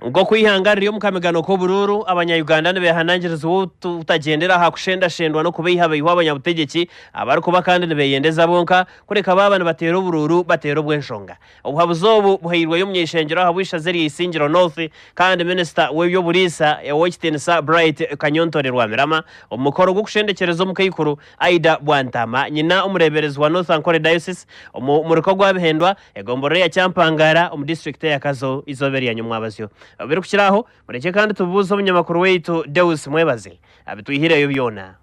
Nk'oku eihanga riri omu kamigano k'oburuuru, Abanya-Uganda nibeehanangirizibwa obutagyendera aha kushendashendwa n'okubeihabeihwa abanyabutegyeki abarikuba kandi nibeeyendeza bonka, kureka baaba nibateera oburuuru bateera obw'enshonga. Obuhabuzi obu buhairweyo omuny'eishengyero ahabw'eishaza erya Isingiro North kandi minisita w'eby'oburiisa, Ow'ekitiinisa Bright Kanyontore Rwamirama, omu mukoro gw'okushendekyereza omukaikuru Aidah Bwantaama, nyina omureeberezi wa North Ankole Diocese, omu murika ogwabihendwa. Egomborora eya Kyampangara omu district eya Kazo izooba erya nyomwabazyo. Obirikukiraho, murekye kandi tubuuze omunyamakuru waitu Deus Mwebaze abitwihireyo byona.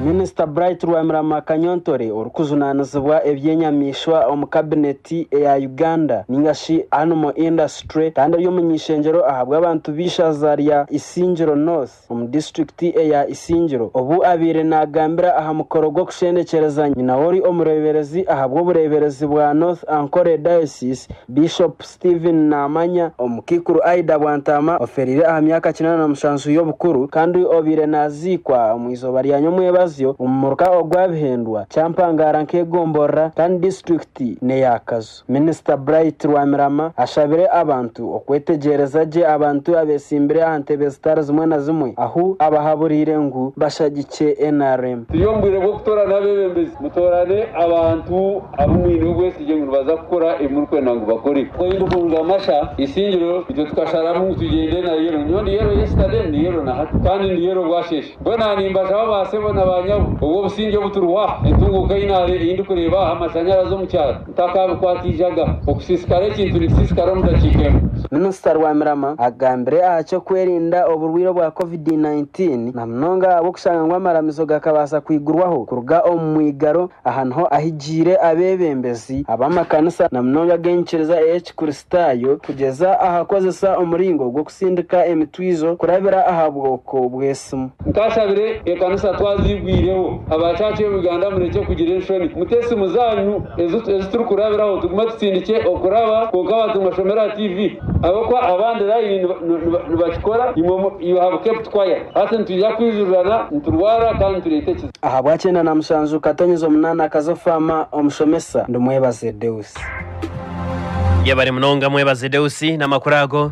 Minisita Bright Rwamirama Kanyontore orikujunanizibwa eby'enyamaishwa omu kabineti eya Uganda ninga shi Animal Industry kandi ari omuny'eishengyero ahabw'abantu b'eishaza rya Isingiro North, omu disiturikiti eya Isingiro, obu abaire naagambira aha mukoro gw'okushendekyereza nyina w'ori omureeberezi ahabw'obureeberezi bwa North Ankole Diocese, Bishop Stephen Naamanya. Omukaikuru Aidah Bwantaama ofeereire aha myaka kinaana na mushanju y'obukuru kandi obaire naaziikwa omu izooba rya nyomwebazyo omu muruka ogwa Bihendwa, Kyampangara nk'egomborora kandi disiturikiti n'eya Kazo. Minisita Bright Rwamirama ashabire abantu okwetegyereza gye abantu abetsimbire aha ntebe zitari zimwe na zimwe ahu abahaburiire ngu bashagikye nrm. Turi omu bwire bw'okutoorana abeebembezi. Mutoorane abantu abu mwine obwesigye ngu nibaza kukora ebi murikwenda ngu bakore. Ku aine kuruga Masha Isingiro, itwe tukasharamu ngu tugyende na Yero. Nyowe ndi Yero yesterday, ndi Yero na hati, kandi ndi Yero bwasheeshe. Mbwenu aha nimbashaba baasebo na baanyabo, obw'obusingye obu turiho aha, entunguuka ei naare ei ndikureeba aha, amashanyarazi omu kyaro, takaabikwatiijaga, okusiisikara ekintu nikisiisikara omu dakiika emwe. Minisita Rwamirama agambire aha ky'okwerinda oburwaire obwa Covid nineteen na munonga ahabw'okushanga ngu amaramizo gakabaasa kwigurwaho kuruga omu mwigaro, aha niho ahigiire abeebembezi ab'amakanisa na munonga ag'enyikiriza ey'Ekikristaayo kugyeza aha kukozesa omuringo gw'okusindika emitwijo kurabira aha bwoko bw'esimu. Nkashabire ekanisa twaziigwireho aba church of Uganda murekye kugira enshoni mute esimu zanyu ezi turi kurabiraho tugume tutsindikye okuraba kwonka bantu nibashomera aha TV ahabw'okuba abandi line nibakikora imwe you have kept quiet hati nitwija kwijurirana niturwara kandi nitureeta ekizibu. Ahabwakyeenda na mushanju Katonyeza omunaana akaza ofaama omushomesa ndi Mwebaze Deus. Yebare munonga Mwebaze Deus namakuru ago.